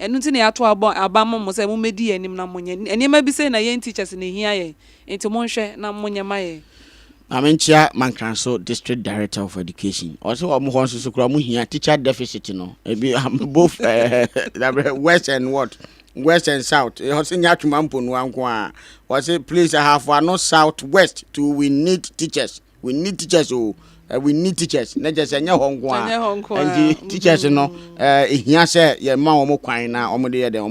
Ɛno nti na yɛato abɔ aba ama mo sɛ mommɛdi yɛn anim na monyɛ. Nneɛma bi sei na yɛn teachers na ɛhia yɛn, nti monhwɛ na monyɛ ma yɛn. Maame Nkyia Mankranso District Director of Education, ɔse wɔn hɔ nso so koraa wɔn hia teacher deficit no, ebi both west and what, west and south, ɔse nyɛ Atwema Mponua nko ara, ɔse please Ahafo Ano South West too we need teachers. we need teachers o eh, we need teachers na kyerɛ sɛ ɛnyɛ hɔ nko a nti teachers no ɛhia eh, sɛ yɛma wɔn kwan na wɔn de yɛ dɛn